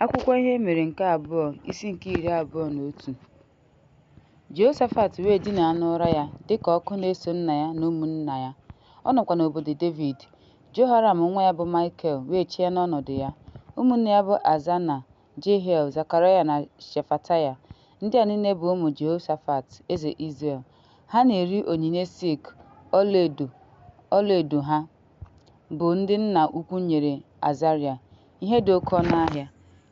Akwụkwọ ihe e mere nke abụọ isi nke iri abụọ na otu Jehoshafat wee dinaa n'ụra ya dị ka ọkụ na-eso nna ya na ụmụnna ya, ọ nọkwa n'obodo Devid. Jehoram nwa ya bụ Maịkel wee chịa n'ọnọdụ ya. Ụmụnne ya bụ Azana, Jehiel, Zekaraya na Shefataya. Ndị a niile bụ ụmụ Jehoshafat, eze Izrel. Ha na-eri onyinye silk, ọlaedo ha bụ ndị nna ukwu nyere Azarịa, ihe dị oke ọnụ ahịa,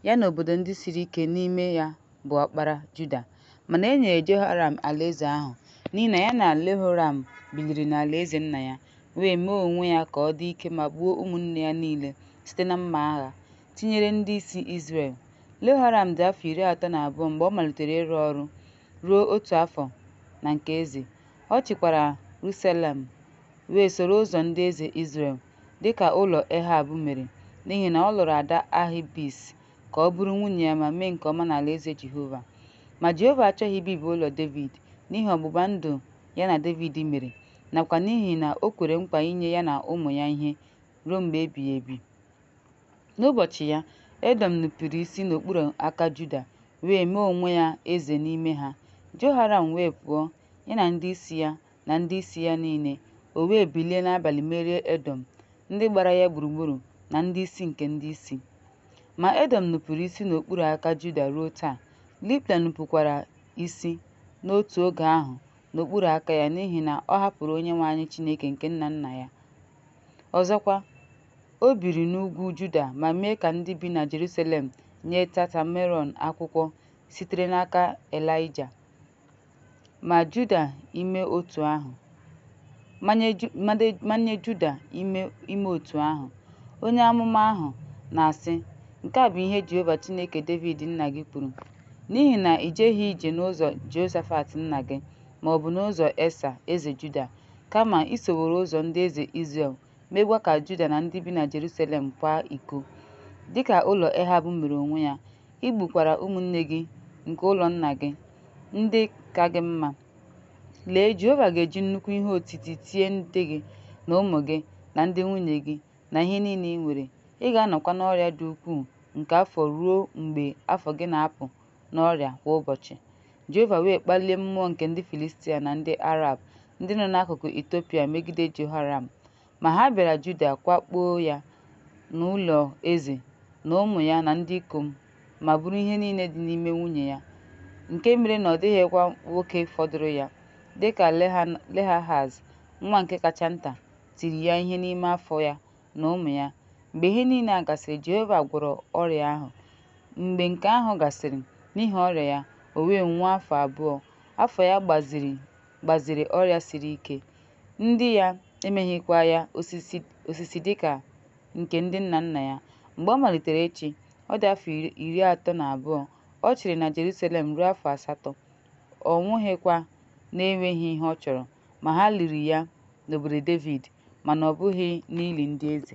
ya na obodo ndị siri ike n'ime ya bụ ọkpara Juda. Mana e nyere Jehoram alaeze ahụ n'ihi na ya na Lehoram biliri n'alaeze nna ya, wee mee onwe ya ka ọ dị ike ma gbuo ụmụnne ya niile site na mma agha, tinyere ndị isi Izrel. Lehoram dị afọ iri atọ na abụọ mgbe ọ malitere ịrụ ọrụ ruo otu afọ na nke eze. Ọ chịkwara Ruselem, wee soro ụzọ ndị eze Izrel, dị ka ụlọ Ehab mere, n'ihi na ọ lụrụ ada Ahibis ka ọ bụrụ nwunye ya ma mee nke ọma n'alaeze Jehova. Ma Jehova achọghị ibibi ụlọ Devid n'ihi ọgbụgba ndụ ya na Devid mere nakwa n'ihi na o kwere nkwa inye ya na ụmụ ya ihe ruo mgbe ebighị ebi. N'ụbọchị ya, Edọm nupụrụ isi n'okpuru aka Juda wee mee onwe ya eze n'ime ha. Jehoram wee pụọ, ya na ndị isi ya na ndị isi ya niile, o wee bilie n'abalị merie Edọm, ndị gbara ya gburugburu na ndị isi nke ndị isi. Ma Edọm nupụrụ isi n'okpuru aka Juda ruo taa, Libna nupụkwara isi n'otu oge ahụ n'okpuru aka ya n'ihi na ọ hapụrụ Onyenwe anyị Chineke nke nna nna ya. Ọzọkwa, O biri n'ugwu Juda ma mee ka ndị bi na Jerusalem nye Tata Meron akwụkwọ sitere n'aka Elaịja. Ma Juda ime otu ahụ. Manye Juda ime otu ahụ. Onye amụma ahụ na-asị, Nke a bụ ihe Jehova Chineke Devid nna gị kwuru, N'ihi na i jeghị ije n'ụzọ Jehoshafat nna gị, ma ọ bụ n'ụzọ Esa eze Juda, kama i soworo ụzọ ndị eze Izrel meekwa ka Juda na ndị bi na Jerusalem kwaa iko, dịka ụlọ Ehab mere onwe ya. I gbukwara ụmụnne gị nke ụlọ nna gị, ndị ka gị mma. Lee, Jehova ga-eji nnukwu ihe otiti tie ndị gị na ụmụ gị na ndị nwunye gị na ihe niile i nwere. Ị ga-anọkwa n'ọrịa dị ukwuu nke afọ ruo mgbe afọ gị na-apụ n'ọrịa kwa ụbọchị. Jehova wee kpalie mmụọ nke ndị Filistia na ndị Arab ndị nọ n'akụkụ Etiopia megide Jehoram, ma ha bịara Juda kwakpoo ya na ụlọ eze na ụmụ ya na ndị ikom ma buru ihe niile dị n'ime nwunye ya, nke mere na ọ dịghịkwa nwoke fọdụrụ ya, dịka Lehahaz, nwa nke kacha nta, tiri ya ihe n'ime afọ ya na ụmụ ya. Mgbe ihe niile a gasịrị, Jehova gwọrọ ọrịa ahụ. Mgbe nke ahụ gasịrị, n'ihi ọrịa ya, o wee nwụọ afọ abụọ. Afọ ya gbaziri ọrịa siri ike. Ndị ya emeghịkwa ya osisi dị ka nke ndị nna nna ya. Mgbe ọ malitere ịchị, ọ dị afọ iri atọ na abụọ. Ọ chịrị na Jeruselem ruo afọ asatọ. Ọ nwụghịkwa na-enweghị ihe ọ chọrọ, ma ha liri ya n'obodo Devid. mana ọ bụghị n'ili ndị eze.